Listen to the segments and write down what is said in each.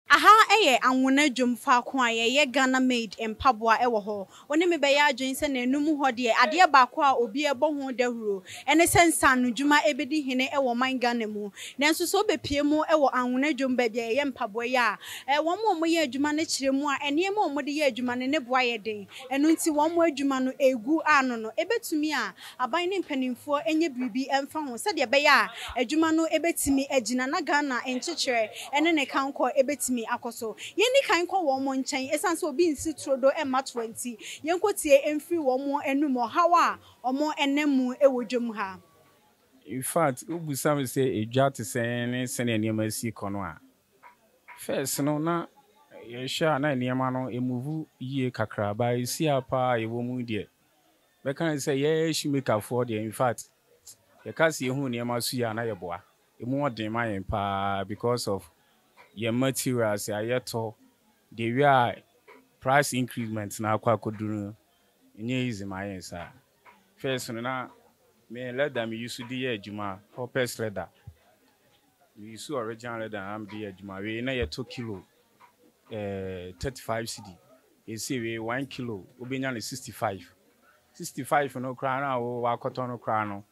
Aha yɛ Anwona dwom faako a yɛyɛ Ghana made mpaboa wɔ hɔ. Wo ne me bɛyɛ adwene sɛ nanum hɔ deɛ adeɛ baako a obi ɛbɔ ho dahuro ɛne sɛ nsaano dwuma ɛbɛdi hene wɔ ɔman Ghana mu. Nanso sɛ wo bɛpue mu wɔ Anwona dwom baabi a yɛyɛ mpaboa yi a, wɔn a wɔyɛ adwuma no kyerɛ mu a nneɛma a wɔde yɛ adwuma no ne bo ayɛ den. Ɛno nti wɔn adwuma no ɛgu ano no ɛbɛtumi a Aban ne mpanimfoɔ nyɛ biribi mfa ho sɛdeɛ ɛbɛyɛ a adwuma no bɛtumi agyina na Ghana nkyekyerɛ ne ne kankɔ bɛtumi akɔ so. Yɛnni kan nkɔ wɔn nkyɛn ɛsiane sɛ obi nsi turodo mma toa nti, yɛnkɔtie mfiri wɔn anom ɔhaw a wɔnam mu wɔ dwam ha. In fact, wobisa me sɛ edwa te sɛn ne sɛnea nneɛma si rekɔ no a, First no na yɛhwɛ a na nneɛma no move yie kakra but ɛsi a paa a yɛwɔ mu yi deɛ bɛka ne sɛ yɛ shoemaker foɔ deɛ infact yɛka sɛ yɛhunu nneɛma so yi a na yɛboa ɛmu wɔ den ma yɛn paa because of yɛn materials a yɛtɔ deɛ wie a price increment no akɔ akɔduru no ɛnyɛ easy ma yɛn saa. First no na me leather me use de yɛ adwuma Hoppers leather me use original leather na me de yɛ adwuma wei na yɛ tɔ kilo eh, thirty five cedi ɛsei wei one kilo wo bɛ nya no sixty five sixty five no koraa na wo akɔtɔ no koraa no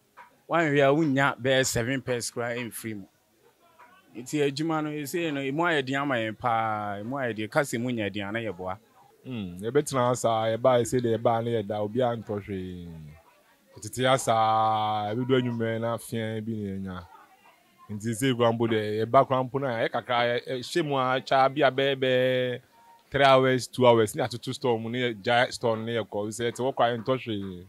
wo anhwɛ a wo nnya bɛyɛ seven pairs koraa ɛmfiri mu. Nti adwuma no ɛsei no ɛmu ayɛ den ama yɛn paa, ɛmu ayɛ den, kasa mu nyɛ den a na yɛboa. Hmm, yɛbɛtena ha saa, yɛbaeɛ sɛdeɛ yɛbaa na yɛda, obiara ntɔ hwee. Yɛtete ha saa, ɛbɛdu anwummerɛ na afea bi na yɛanya. Nti ɛsei koraa mpo deɛ yɛba koraa mpo no a, ɛyɛ kakra, yɛhyɛ mu ara twa bi a bɛyɛ bɛɛ three hours, two hours na yɛatoto store mu na yɛgyae store no na yɛkɔ, ɛfiri sɛ yɛte hɔ koraa yɛntɔ hwee.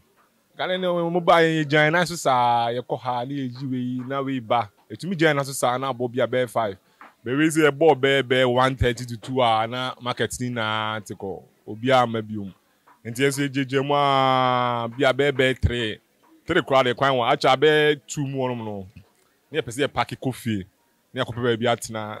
Gane ne wɔn baa yɛn, yɛgyaa yɛn nan so saa, yɛkɔ ha na yɛyi wei na wei ba. Yɛtumi gyaa yɛn nan so saa na abɔ bi a bɛyɛ five. Bɛ wei sɛ yɛbɔɔ bɛyɛ bɛyɛ one thirty to two a na market no nyinaa te kɔ, obiara mma biom. Nti yɛn nso yɛgyaagyaa mu ara bi a bɛyɛ bɛyɛ three, three koraa deɛ kwan wɔ, akyɛ abɛyɛ two mu hɔnom no na yɛpɛ sɛ yɛpake kɔ fie na yɛakɔpɛ baabi atena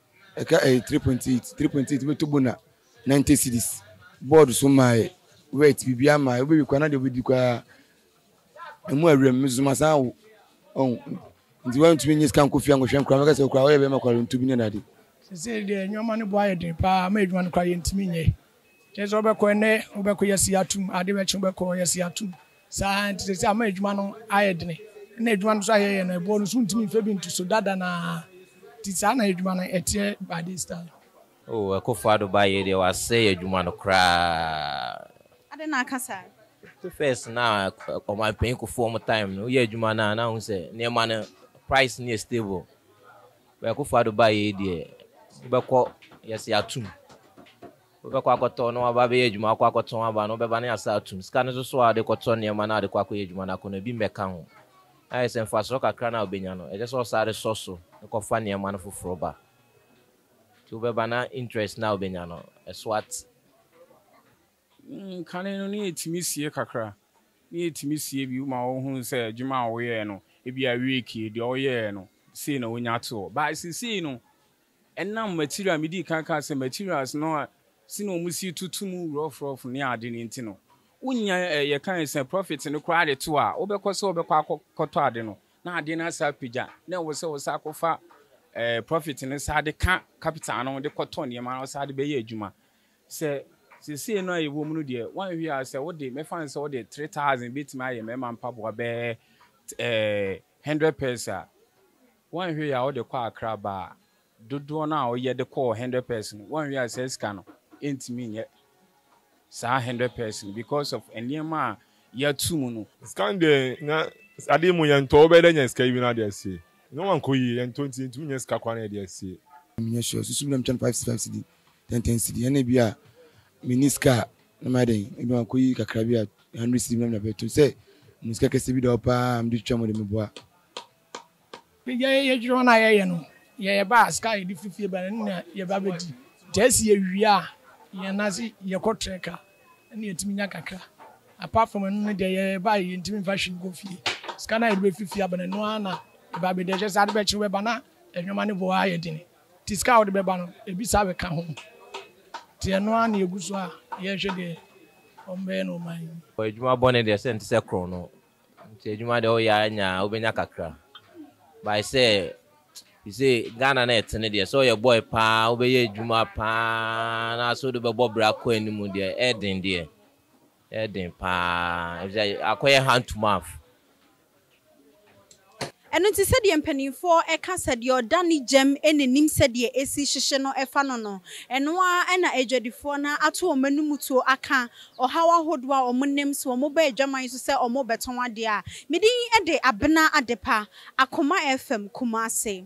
Ɛka ɛyɛ three point eight three point eight wobɛtɔ bona ninety cedis board so maaɛ wet biribiara maaɛ wobɛwie koraa na deɛ wobɛdi koraa ɛmu awuram mesoso masan awo ɔn nti woantumi nye sika nkɔ fie ankɔhwɛ nkora mɛka sɛ okora woyɛ bɛrima kwaronto bi ne dade. Sesei deɛ nneɛma no bo ayɛ den paa ma adwuma no koraa yɛntumi nyɛ. Kyerɛ sɛ wobɛkɔ ɛnnɛ wobɛkɔ yɛasi atom ade bɛkye wobɛkɔ yɛasi atom saa nti sɛ sɛ ama adwuma no ayɛ dene na adwuma no nso ayɛ yɛ na ɛboɔ no so ntumi mfɛ bi nto so dada na nti saa na adwuma no ɛteɛ by this time. Oh Akufo Addo ba yei deɛ wasɛe adwuma no koraa. Adɛn na aka saa? First na ɔmanpanyin Kufuor time no woyɛ adwuma no a na wohu sɛ nneɛma no price no yɛ stable. Akufo Addo bae yi deɛ wobɛkɔ yɛse atom wobɛkɔ akɔtɔ na waba abɛyɛ adwuma wakɔ akɔtɔn aba no wobɛba na yɛasa atom sika no soso a wode kɔtɔ nneɛma na wode kɔ akɔyɛ adwuma no akɔ no ebi mmɛka ho na yɛsɛ mfasoɔ kakra no a wobɛnya no ɛkyɛ sɛ wosan de sɔ so de kɔfa nneɛma no foforɔ ba nti wobɛba na interest no a wobɛnya no ɛso ate. Kane no, na yɛtumi sie kakra, na yɛtumi sie bi ma wɔhunu sɛ adwuma a wɔyɛɛ no, ebia week yi, deɛ wɔyɛɛ no, sei na wɔnya toɔ. But seesei no, ɛnam material, medii kan kaa sɛ materials no a, sɛnea wɔsi toto mu rough rough ne ade no nti no, wonnya, yɛkae sɛ profit no koraa de to a, wobɛkɔ sɛ wobɛkɔ akɔtɔ ade no, na adeɛ no asan apagya, na ɛwɔ sɛ wosan akɔfa profit no san de ka capital no de kɔtɔ nneɛma na wosan de bɛyɛ adwuma. Sɛ seesei no a yɛwɔ mu no deɛ, woanhwɛ a, sɛ wode, mɛfa no sɛ wode three thousand bɛtumi ayɛ mmarima mpaboa bɛyɛ hundred pairs a, woanhwɛ yie a wode kɔ Accra ba a, dodoɔ no a woyɛ de kɔɔ hundred pairs no, woanhwɛ yie a saa sika no ntumi nyɛ saa hundred pairs no because of nneɛma a yɛato mu no. Sika no deɛ, na adeɛ mu yɛntɔ, wobɛyɛ dɛ anya sika yi bi na wode asie. Nneɛma nkɔ yie, yɛntɔ nti yɛntumi nyɛ sika koraa na yɛde asie. Menyɛ sure, susu me na metwa no five five cedi tenten cedi ɛna ebi a mini sika a na mayɛ dɛn ebi ma kɔyi kakra bi a hundred cedi bi na mede abɛto sɛ mo sika kɛse bi da hɔ paa mede twitwa mo de meboa yɛdwere ho no a yɛyɛ no yɛyɛ ba a sika a yɛde firi fie ba no na yɛba bɛdi nti ɛsi yɛwie a yɛn nan ase yɛkɔ trɛ ka ɛna yɛtumi nya kakra apart from ɛno no deɛ yɛyɛ ba a yɛntumi mfa hwee nkɔ fie sika no a yɛde bɛfiri fie aba no ɛno ara na ɛba bɛdi ɛkyɛ sɛ ade bɛkye wobɛba na nneɛma no boa ayɛ dene Nti sika a wode bɛba no ebi saa bɛka ho. Nti ɛno ara na yɛgu so a yɛrehwɛ deɛ wɔbɛyɛ no ɔman yi mu. Adwuma bɔne deɛ sɛ ɛnte sɛ korɔn no nti adwuma deɛ woyɛ ara nya a wobɛnya kakra by sɛ you see Ghana na ɛtene deɛ sɛ ɔyɛ boy paa wobɛyɛ adwuma paa na sɛ wode bɛbɔ bra kɔ anim deɛ ɛden deɛ ɛden paa ɛfisɛ akɔyɛ hand to mouth. Ɛno nti sɛdeɛ mpaninfoɔ ka sɛ deɛ ɔda ne gyam na nim sɛdeɛ ɛsi hyehye no fa no no, ɛno ara na adwadifoɔ no ato wɔn anom tuo aka ɔhaw ahodoɔ a wɔn nim sɛ wɔn ba adwaman so sɛ wɔn rebɛtɔn adeɛ a. Me din de Abena Adepa, Akoma FM, Kumasi.